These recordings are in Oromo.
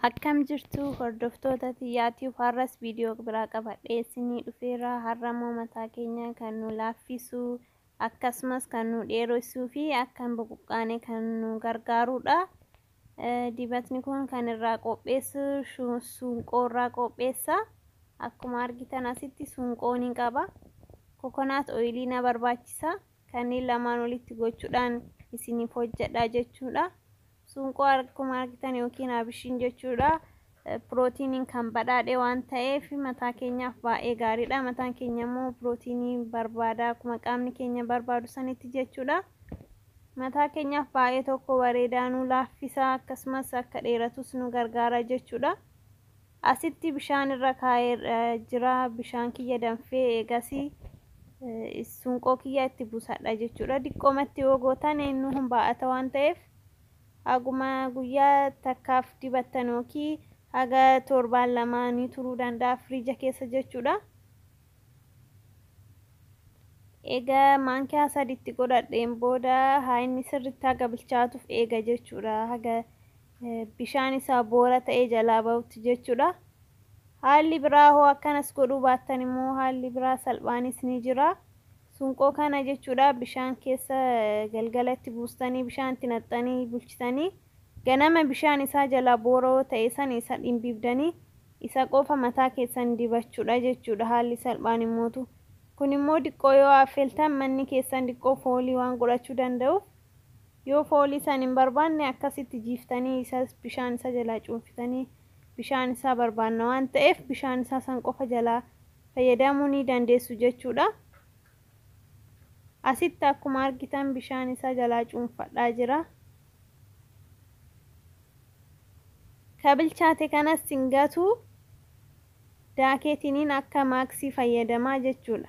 Akkam jirtu hordoftoota xiyyaatiif har'as viidiyoo biraa qabadhee isinii dhufeera. Har'a immoo mataa keenya kan nu laaffisu akkasumas kan nu dheeressuu fi akka hin buqqaane kan nu gargaarudha. Dibatni kun kan irraa qopheessu suunqoo irraa qopheessa. Akkuma argitan asitti suunqoo ni qaba. Kokonaat ooyilii na barbaachisa. Kanneen lamaan walitti gochuudhaan isiniif hojjedha jechuudha. Suunqoo akkuma argitan yookiin abishiin jechuudha. Pirootiiniin kan badhaadhe waan ta'eef mataa keenyaaf baay'ee gaariidha. Mataan keenya immoo pirootiinii barbaada akkuma qaamni keenya barbaadu sanitti jechuudha. Mataa keenyaaf baay'ee tokko bareedaa nu laaffisa akkasumas akka dheeratus nu gargaara jechuudha. Asitti bishaan irra kaa'ee jira bishaan kiyya danfee eegasii sunqoo kiyya itti buusadha jechuudha. Diqqoomatti yoo gootan inni kun baay'ata waan ta'eef Haguma guyyaa takkaaf dibattan ykn haga torbaan lamaa ni turuu danda'a firiija keessa jechuudha. Eega maankiyaa sadi itti godhadheen booda haa inni sirriitti haga bilchaatuuf eega jechuudha. Haga bishaan isaa boora ta'ee jalaa bahutti jechuudha. Haalli biraa hoo akkanas godhuu baattan immoo haalli biraa salphaanis ni jira. Sunqoo kana jechuudha bishaan keessa galgala itti buustanii bishaan itti naqxanii bulchitanii ganama bishaan isaa jalaa boora'oo ta'e san isa dhimbiibdanii isa qofa mataa keessan dibachuudha jechuudha haalli salphaan immootu kun immoo diqqoo yoo affeltan manni keessan diqqoo foolii waan godhachuu danda'uuf yoo foolii san hin barbaanne akkasitti jiiftanii isa bishaan isaa jalaa cuunfitanii bishaan isaa barbaanna waan ta'eef bishaan isaa san qofa jalaa fayyadamuu ni dandeessu jechuudha. Asitti akkuma argitan bishaan isaa jalaa cuunfadhaa jira. Ka bilchaate kanas hin gatu daakeetiniin akka maaksii fayyadamaa jechuudha.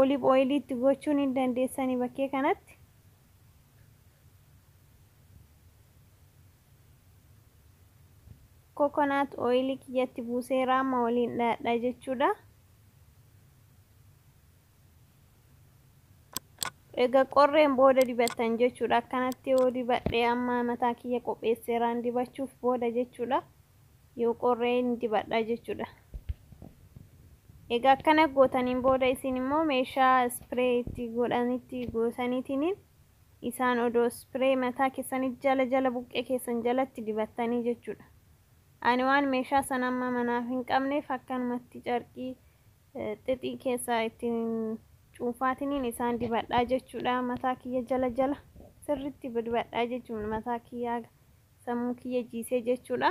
Olive oil itti gochuu ni dandeessani bakkee kanatti. Coconut oil kiyyatti buusee raamma waliin dhaadha jechuudha. Egaa qorreen booda dibattan jechuudha. Akkanatti yoo dibadhe amma mataa kiyya qopheesseeraan dibachuuf booda jechuudha. yoo qorree ni dibadha jechuudha. Egaa akkana gootaniin booda isin immoo meeshaa ispiree itti godhanitti gootaniitiin isaan odoo ispiree mataa keessanii jala jala buqqee keessan jalatti dibattanii jechuudha. Ani waan meeshaa sana amma manaaf hin qabneef akkanumatti carqii eh, xixii keessa ittiin cuunfaatiniin isaan dibadhaa jechuudha. Mataa kiyya jala jala sirriitti dibadhaa jechuudha mataa kiyyaa. Sammuu kiyya jiisee jechuudha.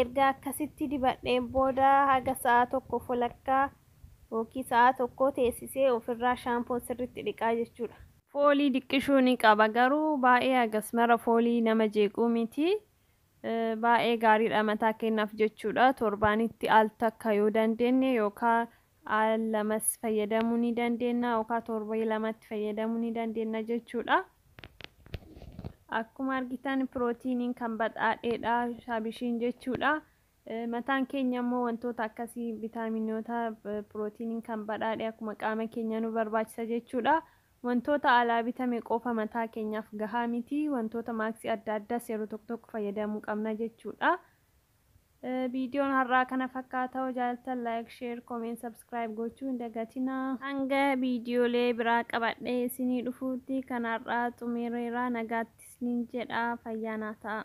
Erga akkasitti dibadheen booda haga sa'a tokko folakkaa yookiin sa'a tokkoo teessisee ofirraa shaampoon sirriitti dhiqaa jechuudha. Foolii diqqishuu ni qaba garuu baay'ee hagas mara foolii nama jeequu miti. Baay'ee gaariidha mataa keenyaaf jechuudha. Torbaanitti al takka yoo dandeenye yookaan al lamas fayyadamuu ni dandeenya yookaan torbee lamatti fayyadamuu ni dandeenya jechuudha. Akkuma argitan pirootiiniin kan badhaadheedha shaabishiin jechuudha. Mataan keenya immoo wantoota akkasii vitaaminoota pirootiiniin kan badhaadhe akkuma qaama keenya nu barbaachisa jechuudha. Wantoota alaa bitame qofa mataa keenyaaf gahaa miti. Wantoota maaksii adda addaas yeroo tokko tokko fayyadamuu qabna jechuudha. Viidiyoon har'aa kana fakkaata hoo jaaltan like, share, comment, subscribe gochuu hin dagatinaa. Hanga viidiyoolee biraa qabadhee isinii dhufuutti kan har'aa xumireera nagaatti isiniin jedha fayyaa naa ta'a.